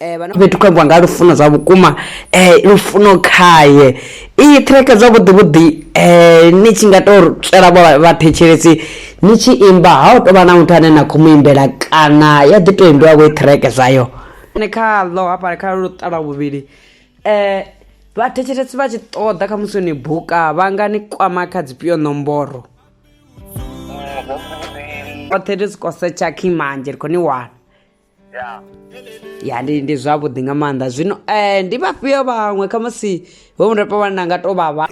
fhethu khou ambiwa nga lufuno zwa vhukuma um lufuno khaye iyi ṱhireke zwavhuḓi vhuḓi um ni tshi nga to tswela vho vhathetshelesi ni tshi imba ha u tovha na muthu ane na khou mu imbela kana ya ḓi to imbiwa vho i ṱhireke zwayo ne khaḽo hafha kha luṱala vhuvhili um vhathetshelesi vha tshi ṱoḓa kha musi ni buka vha nga ni kwama kha dzifhio ṋomboro oṱhe ri si kosetsha khimanje ri khou ni wana ya ndi ndi zwavhuḓi nga maanḓa zwino um ndi vhafhio vhaṅwe khamusi vho murepo vhane na nga to vha vha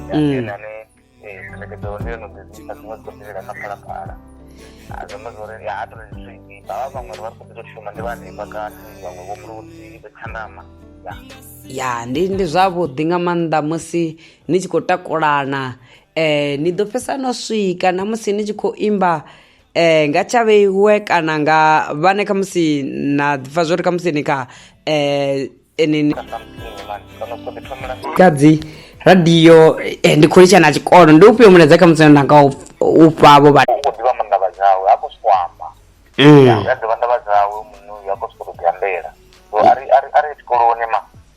Mm. ya ndi ndi zwavhuḓi nga maanḓa musi ni tshi khou takulana eh ni ḓo fhesa no swika na musi ni tshi khou imba eh nga tsha vheiwe kana nga vhane kha musi na pfa zwori kha musi ni kha eh eneni kadzi radio eh, ndi khou litsha na tshikolo ndi ufhio mulaedza kha musi na nga u fha vho vha u ḓivha maanḓa vha dzawe ha khou sokou amba Mm. ya ḓivha ndavha dzawe muṋe uyu ha khou sokou ḓi ambela so ari ari ari tshikoloni ma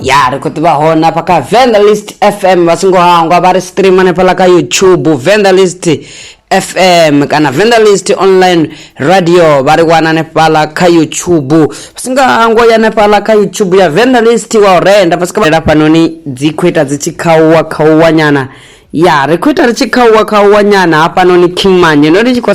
ya ri khou ḓivha hone afha kha vandalist fm vha songo hangwa vha ri stream hanefhaḽa kha youtube vandalist fm kana vandalist online radio vha ri wana hanefhaḽa kha youtube vha songo hangwa ya hanefhaḽa kha youtube ya vandalist wa u renda vha sikaela fhanoni dzi khou ita dzi tshi khauwa khauwa nyana ya ri khou ita ri tshi khauwa khauwa nyana hafhanoni kingmanye no ri tshi khou